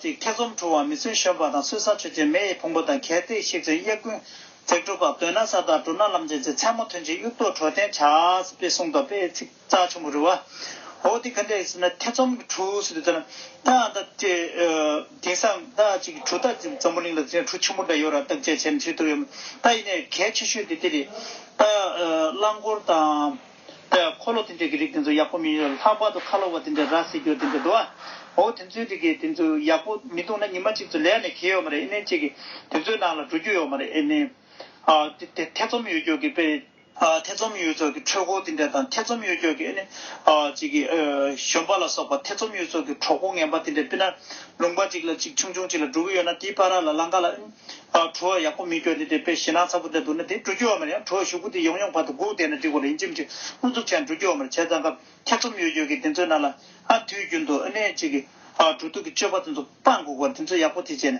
ཐེ་ཚོམ་འཁྲུག་བ་མི་བརྩོན་གཞོན་པ་དང་སྲོལ་བཟང་ཆོས་ཅན་མེ་ཡི་ཕུང་པོ་དང་གལ་ཏེ་གཤེགས་ཚུལ་གཡས་ཀུན། བརྩེགས་སྤྲོ་བག་འདོད་ན་ས་བདག་སྤྲོ་ན་ལམ་ཅན་ཚེ་ཚད་མ་ཐུན་ཅིག་དབྱུག་ཏོ་གྲོ་བརྟེན་བྱ། ཅེས་གསུངས་སྟབས་དཔེའི་ཚིག། རྩ་ཆེན་པོ་རུ་བ། འོ་དེ་ག་འདྲ་ཡིན་ཟེར་ན་ཐེ་ཚོམ་གྱི་གྲུ་ཟེར་དུས་ད་ན་ད་ད་དེང་སང་ད་ཅིག་གྲུ་ད་ཅིག་འཛམ་བུ་གླིང་ལ་ཟེར་ན་གྲུ་ཆེན་པོ་འདྲ་ཡོད་ར་བཏགས་དཔྱད་བྱས་ན་ཆོས་ཐུབ་ཡོད་མ་ད་ཡིན་ནའི་གལ་ཆེ་ཤོས་དེ་དེ་རེད། ད་རླངས་འཁོར་དང། ད་འཁོར་ལོ་དེ་འདྲ་གི་རིགས་དེ་ཚོ་ཡག་པོ་མི་ཡོད་ར་ལྷག་པར་དུ་ཁ་ལོ་བ་དེ་འདྲ་ར་བཟི་རྒྱུ་དེ་འདྲ་འདུག་ཨ། འོ་དེ་ཚོའི་རིགས་ཀྱི་དེ་ཚོ་ཡག་པོ་མི་འདུག་ན་ཉི་མ་གཅིག་ཚོ་ལས་ནས་གེ་ཡོད་མ་རེད་ཨེ་ནས་ཅིག་གི་དེ་ཚོའི་ནང་ལ་འགྲོ་རྒྱུ་ཡོད་མ་རེད་ཨེ་ནས། ཨ་དེ་ཐེ་ཚོམ་ཡོད་རྒྱུ་གི་དཔེ། ཐེ་ཚོམ་ཡོད་ཚོགས་ཀྱི་འཕྲུལ་འཁོར་འདི་འདྲ་དང་ཐེ་ཚོམ་ཡོད་ཀྱོག་གི་གཞོན་པ་ལ་སོགས་པ་ཐེ་ཚོམ་ཡོད་ཚོགས་ཀྱི་གྲོགས་པོ་ངན་པ་འདི་འདྲ་སྤི་ན་ལུང་པ་གཅིག་ལ་གཅིག་ཆུང་ཆུང་གཅིག་ལ་དྲུག་ཡོད་ན་དེའི་པ་ར་ལ་གླང་ག་ལ་བྲུ་བ་ཡག་པོ་མི་ཀྱོག་འདི་འདྲའི་པའི་ཞེ་སྣང་ཚ་པོ་འདྲ་འདུག་ན་དེ་བྲུ་རྒྱུ་བ་མ་རེད་ཡང་བྲུ་བ་ཞུགས་པོ་འདི་ཡོང་ཡོང་བར་དུ་སྒུག་བསྡད་ན་འགྲིག་པ་རེད་ཡིན་ཅི་མི་ཅི་ཨུ་ཚུགས་ཆེ་ན་བྲུ་རྒྱུ་བ་མ་རེད་བྱས་ཙང་སྐབས་ཐེ་ཚོམ་ཡོད་ཀྱོག་གི་འདི་ཚོའི་ནང་ལ་དུས་རྒྱུན་དུ་བྲུ་དུག་གི་སྤྱོད་པ་འདི་ཚོ་སྤང་སྒུག་པར་འདི་ཚོ་ཡག་པོ་དེ་བྱས་ནས།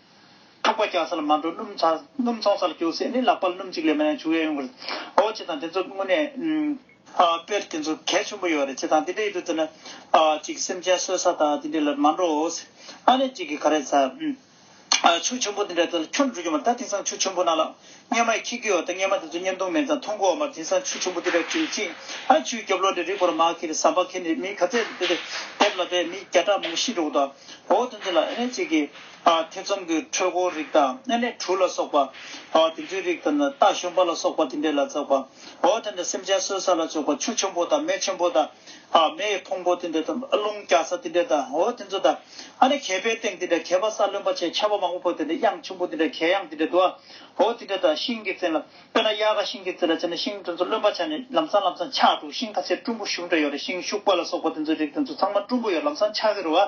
འཁྲུག་པ་རྒྱག་ས་ལ་མ་འགྲོ་སྣུམ་འཚོང་ས་ལ་རྒྱུགས་སྲིད་ནི་ལག་པ་སྣུམ་གཅིག་ལས་མ་ཡང་བྱུག་ཡ་ཡོང་གི་རེད། འོ་ཅི་དང་དེ་ཚོ་དངོས་གནས། དཔེར་དེ་ཚོ་གལ་ཆེན་པོ་ཡོད་རེད་ཅི་དང་དེ་འདྲའི་ཡུལ་དུ་བསྡད་ན། ཅིག་སེམས་ཅན་གསོད་ས་དང་དེ་འདྲའི་ལ་མ་འགྲོ། ཨ་ནེ་ཅིག་གིས་ག་རེ་ཟ། ཆུ་ཆེན་པོ་དེ་འདྲའི་ཐད་ལ་ཁྱོད་འགྲོ་རྒྱུ་མ་རེད་ད་དེང་སང་ཆུ་ཆེན་པོ་ན་ལ། སྙེ་མ་ཡི་ཁྱི་གུའི་འོག་ཏུ་སྙེ་མ་དེ་ཚོ་སྙེ་མདུང་མེད་ཙང་མཐོང་གོ་མར་འཛིན་སང་ཆུ་ཆུང་པོ་དེ་ལ་བྲིས་ཅིག་ཨ་ཆུའི་རྒྱབ་ལོགས་ནས་རི་བོར་མར་ཁེ་ལི་ཟམ་པ་ཁེ་ནི་མིའི་ག་ཚད་དུ་དེ་དེབ་ལ་བས་མི་བརྒྱ་ཕྲག་མང་པོ་ཤི་འགྲོ་གོ་ད་འོ་དེ་ཚོ་ལ་ཨེ་ནས་བྱེད་ཀི་ཨ་ཐེ་ཚོམ་གི་འཕྲོད་གོ་རིགས་དང་ཨེ་ནས་གྲུ་ལ་སོགས་པ་ཨོ་དེ་ཚོའི་རིགས་དང་ད་ཤོམ་པ་ལ་སོགས་པ་དེ་འདྲས་ལ་འཛག་པ་འོ་དེ་འདྲ་སེམས་ཅན་གསོད་ས་ལ་བཅོག་པ་ཆུ་ཆུང་པོ་དང་མེ་ཆུང་པོ་དང། མེ་ཡི་ཕུང་པོ་དེ་འདྲ་དང། རླུང་རྒྱག་ས་དེ་འདྲ་དང་འོ་དེ་ཚོ་དང། ཨ་ནི་གད་པའི་སྟེང་དེ་འདྲ་གད་པ་ས་ལོན་པ་ཆེ་ཆ་བ་མང་པོ་བོར་དེ་འདྲ་དབྱངས་ཆུང་པོ་དེ་འདྲ་གད་དབྱངས་དེ་འདྲ་དུ་བ་འོ་དེ་འདྲ་དང་ཤིང་གི་རྩེ་ལ། དཔེར་ན་གཡག་ཁ་ཤིང་གི་རྩེ་ལ་བྱས་ན་ཤིང་དེ་ཚོ་ལོན་པ་ཆག་ནས་ལམ་སང་ལམ་སང་ཆག་འགྲོ་ཤིང་ཁ་སེར་སྤྲུན་པོ་ཤུགས་འདྲ་ཡོད་རེད་ཤིང་ཤུག་པ་ལ་སོགས་པ་དེ་ཚོའི་རིགས་དེ་ཚོ་ཚང་མ་སྤྲུན་པོ་ཡོད་ལམ་སང་ཆག་གི་རུ་བ།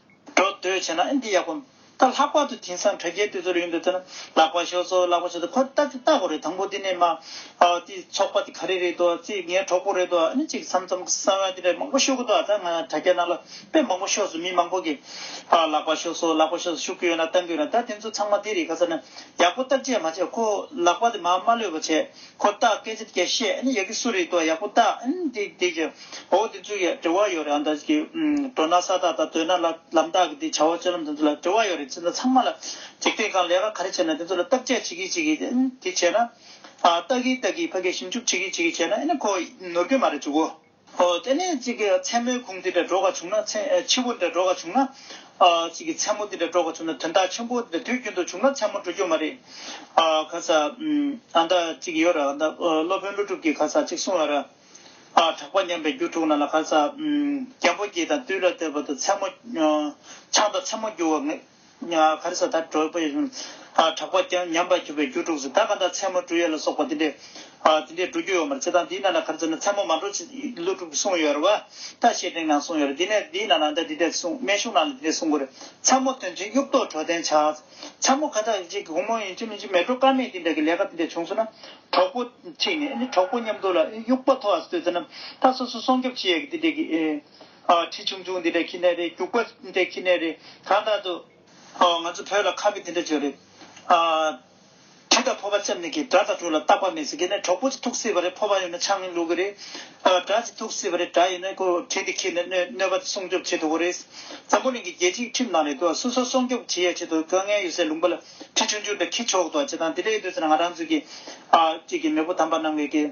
འགྲོ་འདོད་བྱེད་ན་ཨེ་འདི་ཡག་གོ། ད་ལྷག་པར་དུ་དེང་སང་དྲ་རྒྱའི་དུས་ཚོད་རེད་ཡིན་འདུག་ཐོས་ན་ལག་པ་ཞོག་ཚོ་ལག་པ་ཞོག་ཚོ་ཁོ་ལྟ་ཅིག་ལྟ་དགོས་རེད་དང་པོ་དེ་ནས་མ་ཨོ་དེ་ཚོགས་པ་དེ་ག་རེ་རེད་དོ་ཙི་ངའི་གྲོགས་པོ་རེད་དོ་ཨ་ནི་ཅིག་མཚམས་མཚམས་གསང་བ་དེ་འདྲ་མང་པོ་ཤོད་གི་འདུག་ད་ང་དྲ་རྒྱ་ནང་ལ་དཔེ་མང་པོ་ཤོག་སོང་མི་མང་པོ་གི་ལག་པ་ཞོག་ཚོ་ལག་པ་ཞོག་ཚོ་ཞུ་གི་ཡོད་ན་ལྟ་གི་ཡོད་ན་ད་དེ་ཚོ་ཚང་མ་དེ་རེད་ག་ས་ན་ཡག་པོ་བརྟག་དཔྱད་མ་བྱས་ཁོ་ལག་པ་དེ་མ་མ་ལོས་པ་བྱས། ཁོ་བདག་སྐད་ཅིག་བརྒྱ་བཤད་ཨེ་ཡག་གི་སུ་རེད་དོ་ཡག་པོ་བལྟ་ཨེ་འདི་འདི་ཀྱི་འོ་འདི་ཚོའི་ཡ་དྲི་བ་ཡོད་རེད་ཨ་འདི་ཀྱི་འགྲོ་ན་ས་དག་དང་སྡོད་ན་ལ་ལམ་དག་གི་འདི་བྱ་བ་སྤྱོད་ལམ་འདི་ཚོ་ལ་དྲི་བ་ཡོད་རེད་ཅི་འདི་ཚང་མ་ལ་འཇིག་རྟེན་གང་ལས་ཀ་ག་རེ་བྱེད་ན་འདི་ཚོ་ལ་བརྟག་དཔྱད་བྱེད་གིས་བྱེད་གིས་འདི་བྱེད་ན། བལྟ་གིས་བལྟ་གིས་ཕ་གིས་ཞིབ་འཇུག་བྱེད་གིས་བྱེད་གིས་བྱས་ན་ཨེ་ནི་ཁོ་ནོར་གི་མ་རེད་ཅུ་གོ། ཨོ་དེ་ནས་ཅིག་གི་མཚན་མོའི་གུང་འདི་འདྲ་འགྲོགས་བྱུང་ན་མཚན་ཆུ་བོ་འདྲ་འགྲོགས་བྱུང་ན། ཅིག་གི་མཚན་མོ་འདི་འདྲ་འགྲོགས་བྱུང་ན་དོན་དག་ཆེན་པོ་འདི་འདྲ་དུས་རྒྱུན་དུ་བྱུང་ན་མཚན་མོ་འགྲོ་རྒྱུ་མ་རེད། ག་ས། ཨ་ད་ཅིག་ཡོད་ར་ཨ་ད་སློབ་དཔོན་ཀླུ་སྒྲུབ་ཀྱིས་ག་ས་ཅིག་གསུང་བ་ར། གྲགས་པ་ཉམས་པའི་རྒྱུ་དྲུག་ན་ལ་ག་ས། རྒྱལ་པོ་སྐྱིད་དང་བཏུལ་ལ་བསྟོད་པ་དང་མཚན་མོ། ཆང་དང་མཚན་མོ་རྒྱུ་བ། ཁར་ས་ཐར་གྲོལ་བའི་གྲགས་པ་ཀྱང་ཉམས་པར་གྱུར་པའི་རྒྱུ་དྲུག་ཟད་ད་ག་འདྲ་མཚན་མོ་འབྲུ་ཡོད་ལ་སོགས་པ་འདི་འདྲའི་འབྲུ་རྒྱུ་ཡོད་མར་བྱེད་དང་འདིའི་ནང་ན་ཁར་ཟས་ནི་མཚན་མོ་མ་འགྲོ་ཕྱིན་ཀླུ་དྲུག་གསུངས་ཡོད་ར་བ་ད་བཤེས་སྤྲིང་ནང་གསུངས་ཡོད་ར་འདི་ནས་འདིའི་ནང་ན་ད་འདི་འདྲ་གསུངས་སྨན་གཞུང་ནང་ལ་འདི་འདྲ་གསུངས་དགོས་རེད་མཚན་མོ་ཐོན་ཕྱིན་དབྱུག་ཏོ་གྲོ་དན་བྱ། མཚན་མོ་ཁ་ཐག་གཅིག་གུང་མོ་ཡིན་གཅིག་མིན་གཅིག་མེད་གྲོ་དཀར་མེད་འདི་འདྲ་གི་ལས་ཀ་འདི་འདྲ་བྱུང་སོང་ན་གྲོགས་པོ་གཅིག་ནས་གྲོགས་པོ་མཉམ་འདུག་ལ་དབྱུག་པ་ཐོག་ཨ་སི་སྟོད་ཚེ་ན་ད་སོ་སོ་སྲོང་སྐྱོབ་བྱེད་ཡས་ཀྱི་འདི་འདྲ་གི། ཁྲི་ཆུང་ཆུང་འདི་འདྲའི་ཁྱི་ནད་རེད་སྐྱུག་པ་འདི་འདྲའི་ཁྱི་ནད་རེད་ད་ལྟ་དུ། ང་ཚོ་བོད་ལ་ཁ་བི་འདི་འདྲ་བྱོས་རེད། གྲི་དང་ཕོ་བ་བཙེམ་ནི་གི་དགྲ་དང་དྲུག་ལ་རྟག་པ་མེད་ཟེར་གི་ནས་གྲོགས་པོ་ཚོ་ཐུག་སྲིད་པ་རེད་ཕོ་བ་ཡོད་ན་ཆང་ལུག་གི་རེད། དགྲ་ཚོ་ཐུག་སྲིད་པ་རེད་དགྲ་ཡོད་ན་ཁོ་གྲི་འདི་ཁྱི་ནས་གནོད་པ་སྲུང་སྐྱོབ་བྱེད་ཐུབ་པོ་རེད། འཛམ་བུ་གླིང་གི་རྒྱལ་སྤྱིའི་ཁྲིམས་དང་རེད་དོ་སུ་སོ་སྲོང་སྐྱོབ་བྱེད་ཡ་བྱེད་དོ་དཀའ་ངལ་ཡོད་སའི་ལུང་པ་ལ་ཁྲི་ཆུང་ཆུང་འདྲ་ཁྱི་ཆོག་དོ་བྱེད་དང་འདི་འདྲ་ཡོད་དུས་ཚོད་ན་ང་རང་ཚོའི་གི་གཅིག་གི་མེས་པོ་དམ་པ་རྣམས་ཀྱི་གི།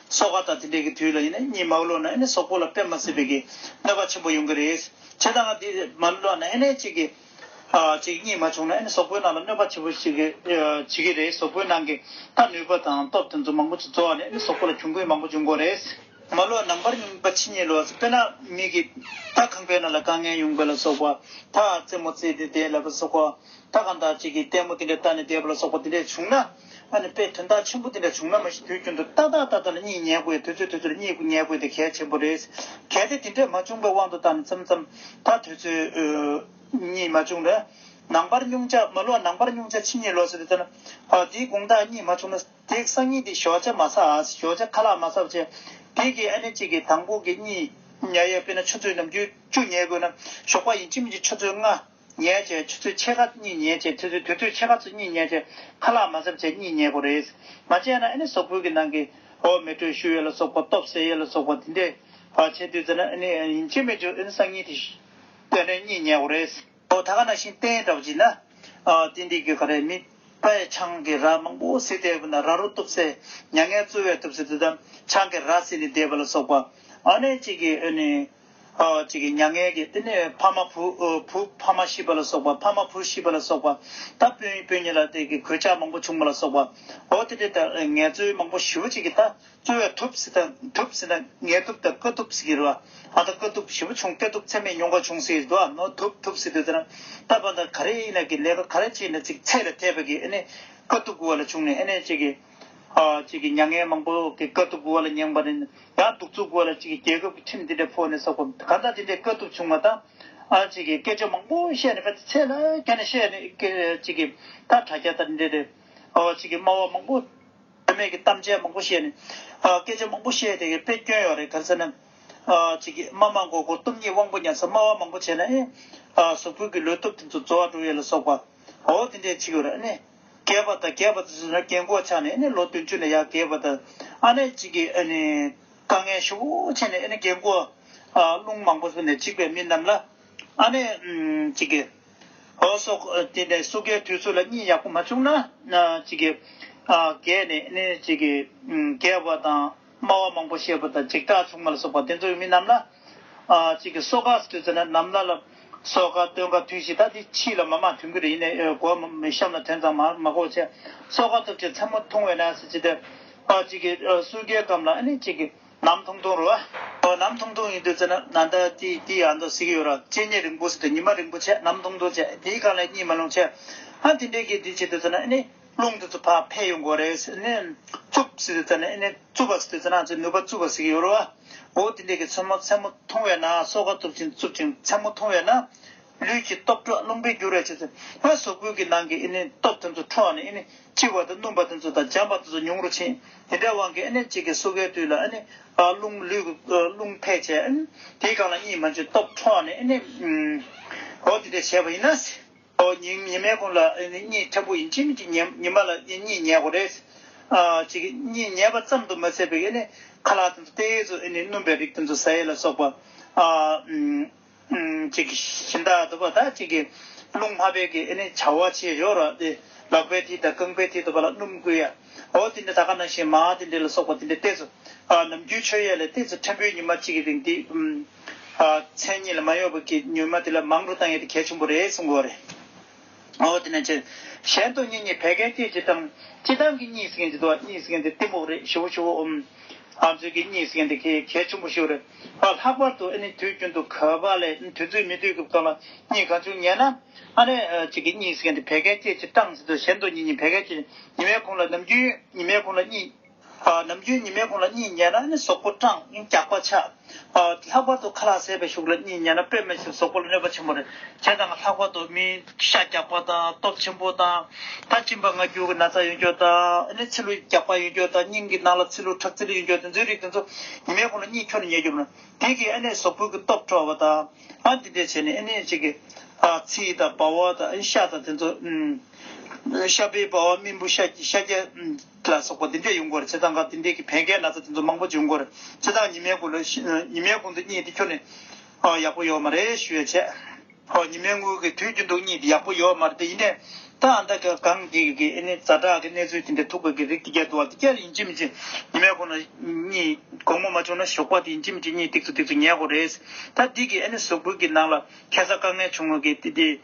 སོག་ཁ་དང་དེ་འདྲས་ཀྱི་དུས་ལ་ཡིན་ན་གཉིད་མ་བློ་ན་ཡིན་ཟོག་པོ་ལ་པད་མ་སྲིད་པའི་གི་གནོད་པ་ཆེན་པོ་ཡོང་གི་རེད། བྱས་ད་ང་དེ་མ་བློ་ན་ཡིན་གཅིག་གི། གཅིག་གཉིད་མ་བྱུང་ན་ཡིན་ཟོག་པོའི་ནང་ལ་གནོད་པ་ཆེན་པོ་ཞིག་གི་བྱེད་གི་རེད་ཟོག་པོའི་ནང་གི་ད་ནུས་པ་དང་སྟོབས་དེ་ཚོ་མང་པོ་ཅིག་རྫོགས་ནས་ནི་ཟོག་པོ་ལ་གྱོང་གུད་མང་པོ་འབྱུང་གོ་རེད། མ་བློ་ན་འབར་ཉུང་པ་ཕྱི་གཉིད་ལོག་ཟིན་པས་ན་མིག་གི་ད་གང་པའི་ནང་ལ་དཀའ་ངལ་ཡོང་པ་ལ་སོག་པ་ད་རྩེད་མོ་རྩེས་ཏེ་བསྡད་ལབ་པ་སོག་པོ་ད་གང་དག་ཅིག་གི་ལྟད་མོ་དེ་འདྲས་ལྟ་ནས་བསྡད་པ་ལ་སོག་པོ་དེ་འདྲས་བྱུང་ན། ཨ་ནི་དཔེ་དོན་དག་ཆེན་པོ་འདི་འདྲ་བྱུང་ན་མ་གཞི་དུས་རྒྱུན་དུ་ཏག་ཏག་ཏག་ཏག་ལ་གཉིད་ཉལ་དགོས་ཡ་དུས་ཚོད་དུས་ཚོད་ལ་གཉིད་དགོས་ཉལ་དགོས་དེ་གལ་ཆེན་པོ་རེད། གལ་ཏེ་དེ་འདྲས་མ་བྱུང་པའི་དབང་དུ་ཏམ་ཙམ་ཙམ་ད་དུས་ཚོད་གཉིད་མ་བྱུང་ན། ནང་པར་སྙུང་བྱ་མ་ལོག་ནང་པར་སྙུང་བྱ་ཕྱི་གཉིད་ལོག་ཟེར་དུ་ལྟ་ན། ཨ་དེའི་དགུང་དག་གཉིད་མ་བྱུང་ན་དེས་སང་ཉིན་དེ་ཞོགས་ཆ་མ་ཚ་ཨཱས་ཞོགས་ཆ་ཁ་ལག་མ་ཚ་བ་བྱས། དེ་གིས་ཨ་ནི་གཅིག་གིས་དང་པོ་གི་གཉིད་ཉལ་ཡས་དཔེ་ན་ཆུ་ཚོད་ནམ་རྒྱུན་བཅུ་ཉལ་དགོས་ན་ཞོགས་པ་ཡིན་ཕྱི་མི་གཅིག་ཆུ་ཚོད་ལྔ། ཉལ་བྱའི་ཆུ་ཚོད་ཕྱེད་ཀ་གཉིས་ཉལ་བྱའི་ཆུ་ཚོད་དུས་ཚོད་ཕྱེད་ཀ་ཚོ་གཉིས་ཉལ་བྱའི་ཁ་ལག་མ་གཟབ་བྱས་གཉིས་ཉལ་དགོས་རེད། མ་བྱས་ན་ཨ་ནི་ཟོག་ཕུད་ཀྱི་ནང་གི། འོ་མེ་དྲོད་ཤུགས་ཡོད་ལ་སོགས་པ་སྟོབས་ཟད་ཡོད་ལ་སོགས་པ་དེ་འདྲས། བར་ཆད་དུས་ཚོད་ན་ཨ་ནི་ཡིན་ཆེ་མེད་ཆུ་ཨ་ནི་སང་ཉིན་དེ། དེ་འདྲས་གཉིས་ཉལ་དགོས་རེད། འོ་ད་ག་ན་ཤིང་སྟན་འདྲ་བོ་ཅིག་ན། ཏིན་ཏིག་གི་ག་རེ་མི། པ་ཡི་ཆང་གི་ར་མང་པོ་བསྲེས་བསྡད་དགོས་ན་ར་རོ་གཏུབ་སའི། མྱ་ངན་བཙོལ་བས་གཏུབ་སའི་དུས་དམ་ཆང་གི་ར་བསྲེས་ནས་བསྡད་པ་ལ་སོགས་པ། ཨ་ནི་གཅིག་གིས་ཨ་ནི། ཅིག་གིས་མྱ་ངན་གྱི་བསྟི་གནས་ཕ་མ་བུ་བུ་ཕ་མ་ཤི་བ་ལ་སོགས་པ་ཕ་མ་བུ་ཤི་བ་ལ་སོགས་པ་ད་སྤུན་སྤུན་གཉིས་ལ་དེ་གི་གོད་ཆག་མང་པོ་བྱུང་བ་ལ་སོགས་པ་འོ་དེ་དེ་ལྟར་ངལ་རྩོལ་མང་པོ་ཞི་བ་ཅིག་གིས་ད་རྩོལ་བས་ཐུབ་བསི་དང་ཐུབ་བསི་ན་ངལ་ཐུབ་དང་དཀའ་ཐུབ་བསི་གི་རུ་བ་ཨ་ད་དཀའ་ཐུབ་ཞི་བ་བྱུང་དཀའ་ཐུབ་ཚད་མེད་མྱོང་བ་བྱུང་སི་རུ་བ་ནོ་ཐུབ་ཐུབ་བསི་དུས་དེ་ན་ད་པ་ད་ག་རེ་ཡིན་ན་གི་ལས་ཀ་ག་རེ་བྱས་ནས་ཅིག་ཚད་ལ་ཐེབས་པ་གིས་ཨེ་ནས་དཀའ་ཐུབ་དགུ་བ་ལ་བྱུང་ནས་ཨེ་ནས་ཅིག་གིས། ཅིག་གིས་མྱ་ངན་མང་པོ་གི་དཀའ་ཐུབ་བུ་བ་ལ་མྱངས་པ་ནི། ཡང་གདུག་རྩུབ་བུ་བ་ལ་ཅིག་གིས་རྒྱལ་ཁབ་ཀྱི་ཁྲིམས་འདི་འདྲ་ཕོག་ནས་ས་གོམས་གང་དག་འདི་འདྲའི་དཀའ་ཐུབ་བྱུང་བ་དང། ཅིག་གིས་སྐད་ཆ་མང་པོ་བཤད་ནས་པ་ཚེ་ཚད་ལ་བརྒྱ་ནས་བཤད་ནས་ཅིག་གིས་ད་དྲ་རྒྱ་དང་འདྲེས་ཏེ། ཅིག་གིས་སྨྲ་བ་མང་པོ་དོན་མེད་ཀྱི་གཏམ་འཆལ་མང་པོ་བཤད་ནས། སྐད་ཆ་མང་པོ་བཤད་དེ་དཔེ་སྐྱོན་ཡོད་རེད་ག་ཚོད་ན། ཅིག་གིས་སྨྲ་མང་གོ་གོ་སྟོབས་ཉིད་དབང་པོ་ཉར་ས་སྨྲ་བ་མང་པོ་བྱས་ན་ཨེ། གཟུགས་ཕུད་ཀྱི་ལུས་སྟོབས་དེ་ཚོ་རྫོགས་འགྲོ་ཡོད་ལ་སོགས་པ། འོ་དེ་འདྲའི་ཚིག་ཡོད་རེད་ཨེ། རྒས་པ་དང་རྒས་པ་དང་བཅས་ན་རྒས་མགོ་ཆགས་ནས་ནི་ལོ་བདུན་ཅུ་ནས་ཡང་རྒས་པ་དང་ཨ་ནེ་གཅིག་གིས་ཨ་ནི་དཀའ་ངལ་ཤུགས་ཆེ་ནས་ཨ་ནི་རྒས་མགོ་རླུང་མང་པོ་བཟོ་ནས་འཇིགས་པའི་མི་རྣམས་ལ་ཨ་ནེ་གཅིག་གིས། ཨོ་སོགས་དེ་ནས་སུ་རྒས་དུས་ཚོད་ལ་གཉིད་ཡག་པོ་མ་བྱུང་ན་གཅིག་གིས། རྒས་ནས་ནི་གཅིག་གིས་རྒས་པ་དང། སྨྲ་བ་མང་པོ་བཤད་པོ་དང་འཇིགས་སྐྲག་ཆུང་མ་ལ་སོགས་པ་དེ་ཚོ་ཡི་མི་རྣམས་ལ། གཅིག་གིས་སོ་ཁ་ཟེར་ཟེར་ན་ནམ་ལ་ལ། སོ་ཁ་སྟོན་ཁ་དུས་ཤིག་ད་དེ་ཕྱིས་ལ་མ་མ་དུས་འགོ་རེ་ཡིན་ནས་གོ་བ་མི་གཤམ་ལ་དོན་ཙམ་མ་མ་གོ་བྱས། སོ་ཁ་སྟོབས་ཆེ་མཚན་མོ་ཐུང་བས་ན་ཟེར་ཅི་སྟེ། གཅིག་གིས་སུའུ་རྒྱལ་སྐམ་ལ་ནི་གཅིག་གིས་ནམ་ཐུང་ཐུང་རུ། ནམ་ཐུང་ཐུང་ཡིན་དུས་ཟེར་ན་ན་ད་དེ་དེ་ཡང་དུ་ཟིག་ཡོད་ར་ལྕེ་ཉེ་རིང་པོ་ཟེར་དུས་ཉི་མ་རིང་པོ་ཆད་ནམ་ཐུང་ཐུང་ཆད་དེའི་གང་ལས་གཉིད་མ་ལོང་ཆད། ཨ་དེ་འདྲའི་གི་དེ་བྱེད་དུས་ཟེར་ན་ནི། རླུང་དུ་དུ་བ་འཕེལ་ཡོང་གོ་རེས་ཨེ་ནས། རྩུབ་སི་དུ་ཙ་ནས་ཨེ་ནས་རྩུབ་བ་སི་དུ་ཙ་ན་ཙི་ནུས་པ་རྩུབ་བ་སི་གི་ཡོ་རུ་བ། འོ་དེ་འདྲས་ཀྱི་མཚོན་མོ་མཚན་མོ་མཐོང་བས་ན་སོ་ག་རྩུབ་ཅིང་རྩུབ་ཅིང་མཚན་མོ་མཐོང་བས་ན། ལུས་ཀྱི་སྟོབས་འཕྲོག་རླུང་འཕེལ་འགྱུར་བས་ཆུ་ཚོད་ལྔ་ཟོག་ཀུན་གྱི་ནང་གི་ཨེ་ནས་སྟོབས་དེ་ཚོ་འཕྲོག་ནས་ཨེ་ནས་ལྕི་བ་དང་སྣུམ་པ་དེ་ཚོ་དང་འཇམ་པ་དེ་ཚོ་ཉུང་རུ་ཕྱིན། དེ་འདྲའི་དབང་གིས་ཨེ་ནས་གཅིག་གི་སོ་གའི་དུས་ལ་ཨེ་ནས། རླུང་ལུས་རླུང་འཕེལ་བྱས། དེའི་སྒང་ལ་གཉིས་མ་བཅུ་སྟོབས་འཕྲོག་ནས་ཨེ་ནས། འོ་དེ་འདྲས་བྱས་པ་ཡིན་ན། ཨོ་ཉི་ཉི་མའི་གོང་ལ་གཉིད་ཁྲ་པོ་ཡིན་ཕྱིན་གྱི་ཉི་མ་ལ་གཉིད་ཉལ་གོ་རེད། གཉིད་ཉལ་བ་ཙམ་དུ་མ་ཟད་པའི་ཁ་ལག་དེ་ཚོ་རྟའི་གཡས་སུ་བསྣུན་པའི་རིགས་དེ་ཚོ་ཟ་ཡས་ལ་སོགས་པ། གཞི་བདག་དུ་བ་དག་ཅིག་གིས་རླུང་སྨ་བེད་ཀྱི་བྱ་བ་བྱེད་ཞོར་རོ། ལག་པའི་མཐིལ་དང་རྐང་པའི་མཐིལ་དུ་བ་ལ་སྣུམ་བསྐུས་ཡ། ཨོ་དེ་འདྲ་ད་ག་ནང་བཞིན་མ་དེ་འདྲ་ལ་སོགས་པ་དེ་འདྲའི་རྟས་སུ། ནམ་རྒྱུན་ཆོས་ཡས་ལས་རྟས་སུ་ཕྲན་བུའི་ཉི་མ་གཅིག་གི་རིང་དེ། མཚན་ཉིད་ལ་མ་གཡོས་པ་གྱིས་མྱུལ་མ་དེ་ལ་མང་པོ་བཏང་ཡོད་དེ་གལ་ཆེན་པོ་རེད་གསུང་གོ་རེད། ཨོ་དེ་ནས་ཅི། གཞན་དོན་གཉིས་གཉིས་བད་ཀན་སྐྱེད་བྱེད་དང། སྤྱི་བཏང་གི་གཉིས་ཟེར་མཁན་གྱི་དོ་གཉིས་ཟེར་མཁན་དེ་གཏི་མུག་རེད་ཞི་བོ་ཞི་བོ་འོང། ཨ་མཚོན་གྱི་གཉིས་ཟེར་མཁན་དེ་གལ་ཆེན་པོ་ཞིག་རེད། ཨ་ལྷག་པར་དུ་ཨ་ནི་དུས་རྒྱུན་དུ་ག་པ་ལས་དུས་ཚོད་མི་དུས་ཀྱི་སྐབས་ལ་གཉིས་གང་བྱུང་ཉན་ན། ཨ་ནི་གཅིག་གི་གཉིས་ཟེར་མཁན་དེ་བད་ཀན་སྐྱེད་བྱེད་བཏང་ཟེར་དུས་གཞན་དོན་གཉིས་གཉིས་བད་ཀན་སྐྱེད་བྱེད་ཉི་མའི་ཁོང་ལ་ནམ་རྒྱུན་ཉི་མའི་ཁོང་ལ་གཉིས། ནམ་རྒྱུན་ཉི་མའི་ཁོང་ལ་གཉིད་ཉལ་ན་ནི་ཟོག་པོ་སྐྲངས་རྒྱགས་པ་ཆགས། ལྷག་པར་དུ་ཁ་ལག་ཟས་པའི་ཤུགས་ལ་གཉིད་ཉལ་ན་པད་སྨད་ཆུ་ཟོག་པོ་ལ་གནོད་པ་ཆེན་པོ་རེད། དེ་དང་ལྷག་པར་དུ་མིའི་ཤ་རྒྱགས་པ་དང་སྟོབས་ཆེན་པོ་དང། ད་གཅིན་པ་ངར་སྐྱུར་གྱི་ན་ཚ་ཡོད་འགྱོ་དང། ཚི་ལུ་རྒྱགས་པ་ཡོད་འགྱོ་དང་སྙིང་གི་ནང་ལ་ཚི་ལུ་ཁྲག་ཚི་ལུ་ཡོད་འགྱོ་དེ་ཚོའི་རིགས་དེ་ཚོ་ཉི་མའི་ཁོང་ལ་གཉིད་ཁྱོར་ནས་ཉལ་རྒྱུ་མིན། དེ་གིས་ཨེ་ནས་ཟོག་པོའི་གི་སྟོབས་འཕྲོ་བ་དང། འདི་འདྲས་བྱས་ནས་ཨེ་ནས་ཅིག་གི། ཚིལ་དང་སྦ་བ་དང་ཤ་དང་དེ་ཚོ། ཤ་སྦས་སྦ་བ་སྨིན་བུ་ཤ་རྒྱགས། ལ་སོགས་པ་འདི་འདྲས་ཡོང་སྐོར་བྱེད་སྟངས་སྐབས་དེ་འདྲས་ཀྱི་བན་གའི་ན་ཚ་དེ་ཚོ་མང་པོ་བྱུང་སྐོར་བྱེད་སྟངས་ཉི་མའི་དགུང་དུ་གཉིད་དེ་ཁྱོར་ནས། ཨོ་ཡག་པོ་ཡོད་མ་རེད་ཞུ་ཡ་བྱས། ཨོ་ཉི་མའི་དངུལ་གྱི་དུས་རྒྱུན་དུ་གཉིད་དེ་ཡག་པོ་ཡོད་མ་རེད་དེ་ཡིན་ནའི། ད་ཨ་མདའ་ག་གངས་སྐྱིད་ཀྱི་ཨེ་ནི་རྫ་བྲག་གི་གནས་ཚུལ་དེ་འདྲས་ཐུག་པའི་གི་རིགས་དེ་རྒྱལ་དུ་བ་དེ་ཁྱེར་ཡིན་གཅིག་མི་གཅིག་ཉི་མའི་དགུང་ན་གཉིད་དགོང་མོ་མ་བྱུང་ན་ཞོགས་པ་དེ་ཡིན་གཅིག་མི་གཅིག་གཉིད་སྟེགས་སུ་སྟེགས་སུ་ཉལ་དགོས་རེད། ད་འདི་གི་ཨེ་ནི་ཟོག་འགུལ་གྱི་ནང་ལ་ཁེ་ས་དཀའ་ངལ་བྱུང་ངོ་གི་དེ་དེ།